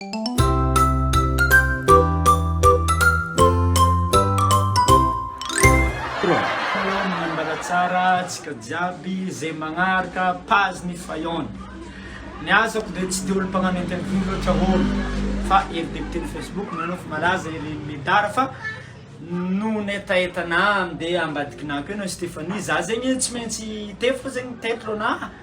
Manambaratsara antsika jiaby ze magnaraka page ny fayon. Ny asako dia tsy dia olo mpagnano interview loatra olo fa ery député ny facebook nareo efa malaza ery medard fa noho ny hetahetana dia ambadikinako eo na Stéphanie za zegny tsy maintsy hitety fô zegny ny titre-na.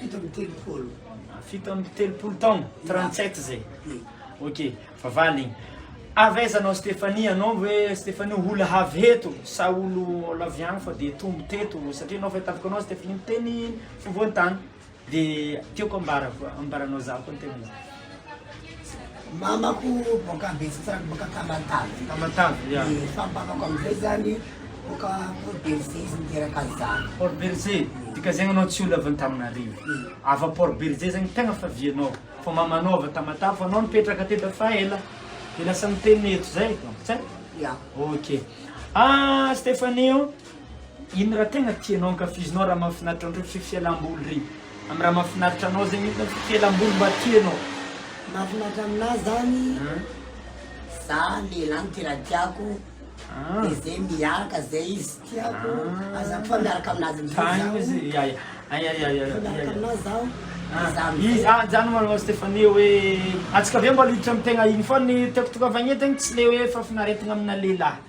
Fito amby telopolo. Fito amby telopolo taona, 37 zay. Ok, fa valigny. Avy aiza anao Stéphanie? Anao hoe Stéphanie hola havy heto sa olo lavy agny fa de tombo teto satria anao fa tafika anao Stéphanie miteny fovoan-tany. De tiako ambara ambaranao za koa ny tenanao. Mamako boaka Betsitsarana boaka Tamatave. Tamatave, ya. Dia fampamako amin'izay zany boaka Port Bergé izy niteraka zany. Port Bergé, dikazegny anao tsy olo avy Antananarivo. Ava Port Bergé zegny tegna favianao. Fa mamanao avy Tamatave fa anao nipetraka teto efa ela. Dia lasa niteny eto zay donc, tsy haiko. Ya. Ok. Ah Stephanie o! Ino raha tegna tianao ankafizinao raha mahafinaritra anao tsy fialamboly re am raha mahafinaritra anao zegny ino tsy fialamboly mba tianao. Mahafinaritra aminahy zany za lehilahy ny tena tiako de zay miaraka zay izy tiako aza koa miaraka aminazy amizay zaho zany manao Stéphanie hoe atsika aveo mba hiditra am tegna iny fô ny tiako tokavagna eto tsy le hoe fahafinaretagna amina lehilahy.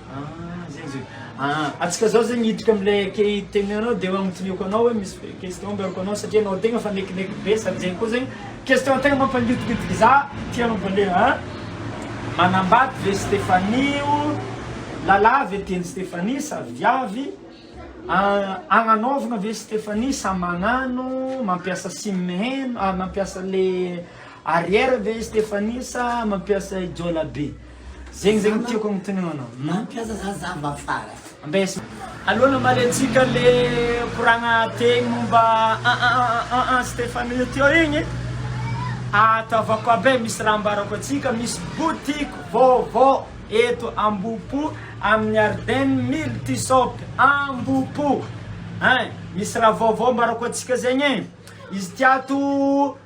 Ah zegny izy io. Ah antsika zao zegny hiditra am'lay key teny anao de agnontoniako anao hoe misy fe- question ambarako anao satria anao tegna fa nekineko be sady zegny koa zegny question tegna mampangidingidiky za ty anao vale a manambady ve Stéphanie o lalah ve teny Stéphanie sa viavy ah agnanaovagna ve Stéphanie sa magnano mampiasa sim heno ah mampiasa le arrière ve Stéphanie sa mampiasa ijola be. Zegny zegny tiako agnontaniagna anao hum. Mampiasa za za mba fara. Ambes. Allo namaly antsika le koragna tegny momba aa Stephanie teo igny e. Ataovako aby misy raha ambarako antsika misy boutique vaovao eto Ambohipo amin'ny Arden Multishop Ambohipo hein misy raha vaovao ambarako antsika zegny e izy ty ato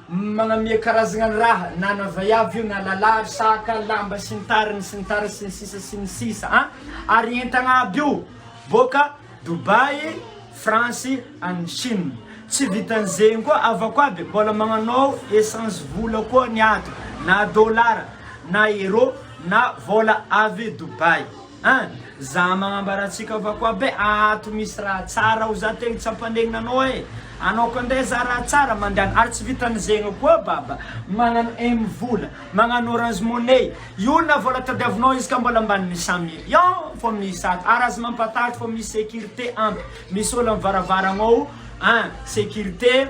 Manamia karazagna ny raha na na vaiavy io na lala ary saka, lamba sy ny tariny sy ny tariny sy ny sisa sy ny sisa an! ary entagna aby io boaka Dubai, France any Chine, tsy vitan'izegny koa avako aby mbola magnanao essence vola koa ny ato na dolara na euro na vôla avy Dubai. An! Za magnambara antsika fa koa be ato misy raha tsara ao za tegna tsy ampanegna anao e! Anao koa ndray za raha tsara mandany ary tsy vitan'ny zegny koa baba magnano M vola, magnano orange money, io na vola tadiavinao izy ka mbola ambanin'ny cent million fô misy ato ary aza mampatahotra fô misy sécurité ampy misy ôlo am varavaragnao an! sécurité.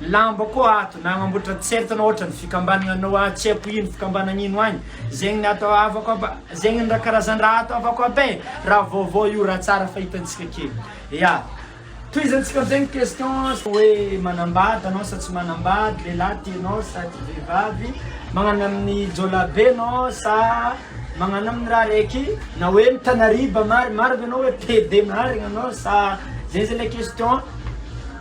Lamba koa ato na agnamboatra tsert na ohatran'ny fikambanagna anao ah tsy haiko ino fikambanagna ino agny zegny ny ato havako aby zegny ny raha karazan-draha ato havako aby e raha vaovao io raha tsara fa hitantsika kely ya tohizantsika am'zegny question hoe manambady anao sa tsy manambady lehilahy ty anao sa ty vehivavy magnano amin'ny jiolabe anao sa magnano amin'ny raha raiky na hoe mitanariba mari- maro ve anao hoe pede marigny anao sa zay zany le question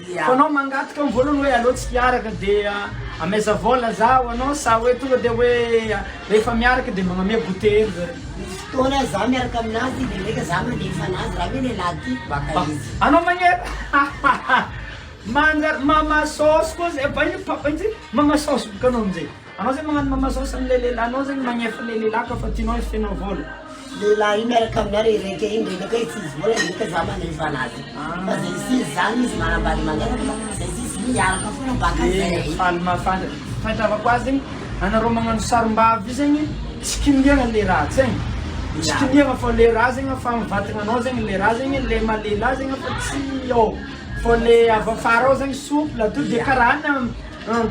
Fa anao mangataka ny voalohany hoe aleo tsy mpiaraka dia ameza vola za ho anao sa hoe tonga dia hoe rehefa miaraka dia magname goûter hely zareo? Misy fotoana za miaraka aminazy dia ndraika za mandefa anazy ra hoe lehilahy tiako baka izy. Anao magnera? Manjary mama saosy koa zay, mama saosy boka anao amin'izay. Anao zany magnano mamasaosa an'ilay lehilahinao zany magnefy ilay lehilahy ka fa tianao hifehinao vola. Lehilahy io miaraka aminao re reka iny re nefay tsy izy vola reka za manefa anazy. Ah. Fa zay tsy izy zany izy manambady mangataka fa zay tsy izy miaraka foana baka zay. Faly mahafantatra. Fahatravako azy zegny anareo magnano sarimbavy io zegny tsy kinihagna le raha zegny. Tsy kinihagna fa le raha zegny efa amin'ny vatagnanao zegny le raha zegny le maha lehilahy zegny efa tsy ao. Fa le avy afara ao zegny souple to de karaha any an.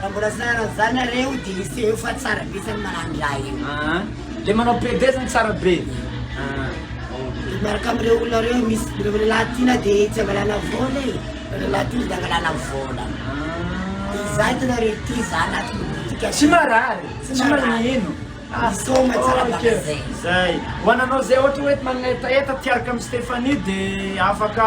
Raha mbola tsy nanana zany nareo de eseho fa tsara be zany mahandro raha io. Aa le manao PD zany tsara be aa ok. De miaraka am reo olona reo misy de reo lelah ty na de tsy angalana vola e reo lelah ty de angalana vola de za itanareo ty za anaty moditika tsy marary tsy marary ino aa misaoma tsara baka zay zay ho ananao zay ohatra hoe manetaheta tiaraka am Stephanie de afaka